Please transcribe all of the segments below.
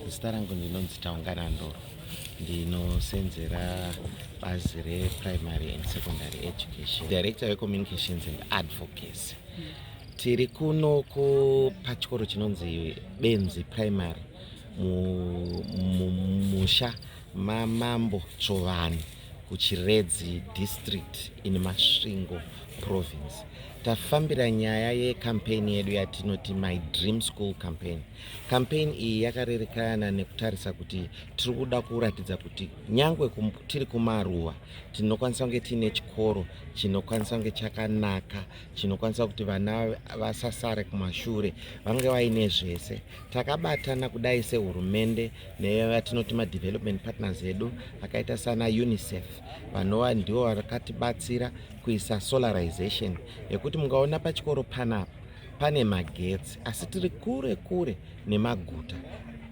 Zita rangu ndinonzi Taungana Ndoro, ndinosenzera bazi reprimary and secondary education, director wecommunications and advocacy. Tiri kuno pachikoro chinonzi Benzi Primary mumusha mamambo Tsvovanhu kuChiredzi district in Masvingo province. Tafambira nyaya yecampaign yedu yatinoti My Dream School campaign Campaign iyi yakarerekana nekutarisa kuti tiri kuda kuratidza kuti nyangwe kum, tiri kumaruwa tinokwanisa kunge tiine chikoro chinokwanisa kunge chakanaka chinokwanisa kuti vana vasasare kumashure vange vaine zvese takabatana kudai sehurumende nevatinoti madevelopment partners edu akaita sana unicef vanova ndivo vakatibatsira kuisa solarization yekuti mungaona pachikoro panapa pane magetsi asi tiri kure kure nemaguta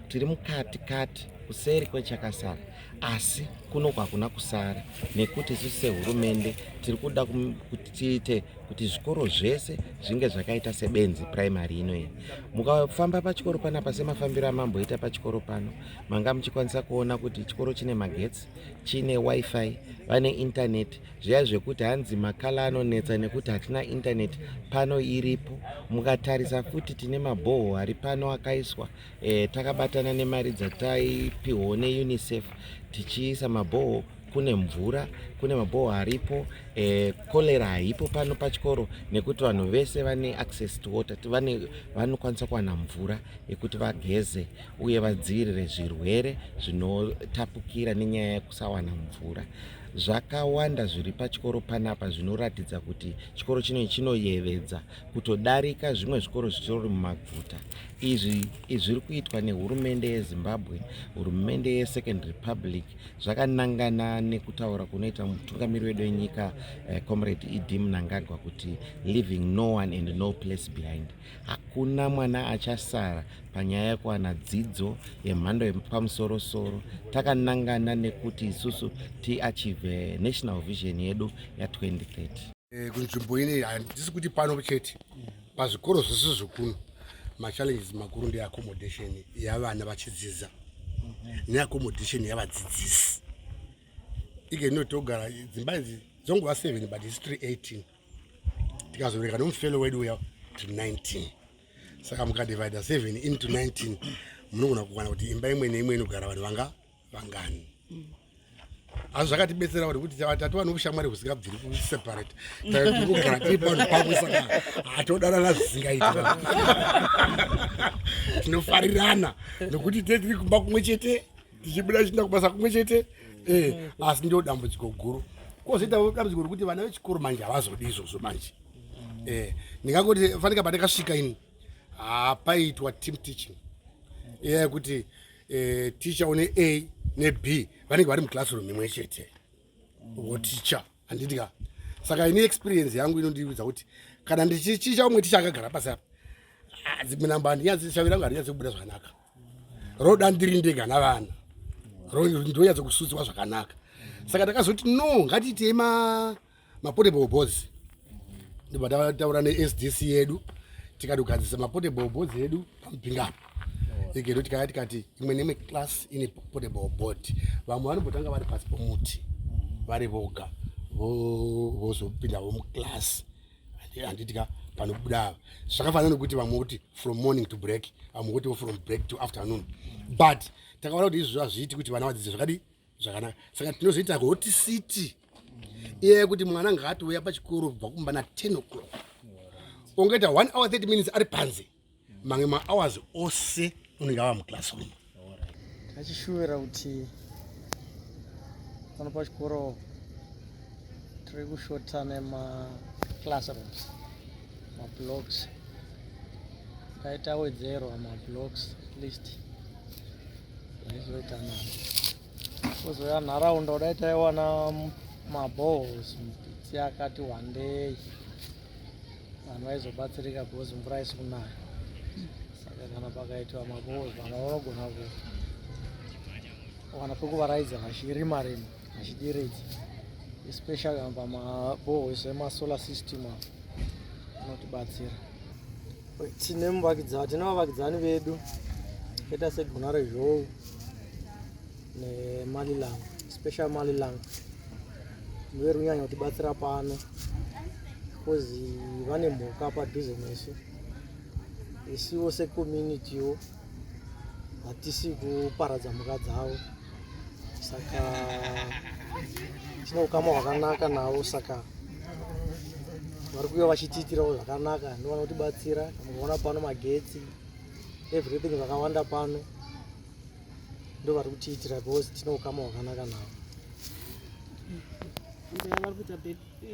tiri mukati kati kuseri kwechakasara asi kuno kwakuna kusara nekuti isu sehurumende tiri kuda kuti tiite kuti zvikoro zvese zvinge zvakaita sebenzi primary ino iyi mukafamba pachikoro panapa semafambiro amamboita pachikoro pano manga muchikwanisa kuona kuti chikoro chine magetsi chine wifi vane intaneti zviya zvekuti hanzi makala anonetsa nekuti hatina intaneti pano iripo mukatarisa futi tine mabhoho ari pano akaiswa e, takabatana nemari dzataipihwo neunicef tichiisa mabhoho kune mvura kune mabhoho aripo e, cholera haipo pano pachikoro nekuti vanhu vese vane access to water vane vanokwanisa kuwana mvura yekuti vageze uye vadzivirire zvirwere zvinotapukira nenyaya yekusawana mvura Zvakawanda zviri pachikoro panapa zvinoratidza kuti chikoro chino chinoyevedza kutodarika zvimwe zvikoro zvitori mumaguta. Izvi zviri kuitwa nehurumende yeZimbabwe, hurumende yeSecond Republic zvakanangana nekutaura kunoita mutungamiri wedu wenyika eh, Comrade ED Mnangagwa kuti leaving no one and no place behind. Hakuna mwana achasara panyaya yekuwana dzidzo yemhando yepamusorosoro takanangana nekuti isusu tiachieve national vision yedu ya2030. Eh, kunzvimbo ine handisi kuti pano chete pazvikoro zvese zvekuno machallenges makuru ndeaccommodation yavana vachidzidza neaccommodation yavadzidzisi ike inotogara dzimba idzi dzongova 7 but isi 318 tikazobereka nomufelo wedu uya to 19 saka mukadivida 7 into 19 munogona kukwana kuti imba imwe neimwe inogara vanhu vanga vangani asi zvakatibetsera kuti kuti tatova noushamwari husingabviri kuseparate taigara tiri panhu pamwe saka hatodanana zvisingaiti tinofarirana nokuti tetiri kumba kumwe chete tichibuda tichiinda kubasa kumwe chete eh, asi ndo dambudziko guru kozoitawo dambudziko rekuti vana vechikoro manje havazodi izvozvo manje eh, ndingangoti fanika pandakasvika ini hapaitwa team teaching eya yekuti eh, ticha une a neb vanenge vari muclassroom imwe chete voticha handiti ka saka ini experience yangu inondiudza kuti kana ndichichicha umwe ticha akagara pasi apa ah, dzimwe namba handinyatsi shavi rangu harinyatsi kubuda zvakanaka roda ndiri ndega navana ndonyatsa kusutsiwa zvakanaka saka takazoti no ngatiitei mapotable bos ndibva tataura nesdc yedu tikatogadzisa mapotable bos edu pamupinga igero tikaya tikati imwe nemwe class ine portable board vamwe vanombotanga vari pasi pomuti vari voga vozopinda vo muclass handitika panobuda ava zvakafanana nokuti vamwe kuti from morning to break vamwe kuti vo from break to afternoon but takaona kuti izvozvo hazviiti kuti vana vadzidze zvakadii zvakanaka saka tinozoita hoti city iye kuti mwana ngaatouya pachikoro kubva kumba na 10 o'clock ongoita one hour 30 minutes ari panze mamwe mahours ose unenge ava muclassroom achishuvira kuti pano pachikoro tiri kushota nemaclassrooms mablocks paita wedzero mablocks list aizoita na kuzouya nharaunda kudai taiwana mabohos mupitsi akati wandei vanhu vaizobatsirika because mvura isi kunaya saka kana pakaitwa mabohol vanhu vanogona kuwana pekuvaraidza vachirima rima vachideredza especially pamabohol isu emasolar system apo anotibatsira tine muvakidzani tine vavakidzani vedu kaita segunare zhou nemalilang special malilang verunyanya kutibatsira pano bcause vane mhuka padhuze nesu isiwo secommunitywo hatisi kuparadza mhuka dzavo saka tine ukama hwakanaka navo saka vari kuya vachitiitirawo zvakanaka ndovana kutibatsira mukaona pano magetsi everything zvakawanda pano ndovari kutiitira because tine ukama hwakanaka navo